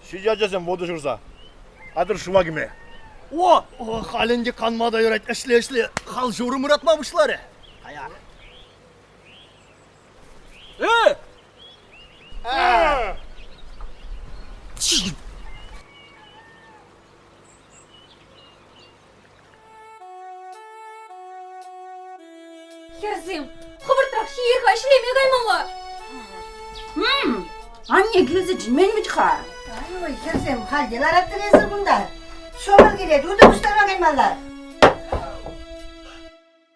Ҫичӗ ачасем воду ҫурса. Атӑр шыва кӗме. О, о, халь ӗнтӗ канма та юрать, ӗҫле, ӗҫле. Хал ҫурӑм ыратма пуҫларӗ. Каяк. Хӗрсем, хӑвӑртрах ҫиехха ӗҫлеме каймалла. Анне килсе чӗнмен вӗт-ха. Ай, хӗрсем, хальте лараттӑр эсир кунта. Шӑпӑр килет, унта пуҫтарма каймалла.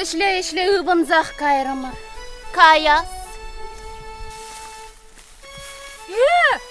Ӗҫле-ӗҫле ывӑнсах кайрӑмӑр. Кая. Э!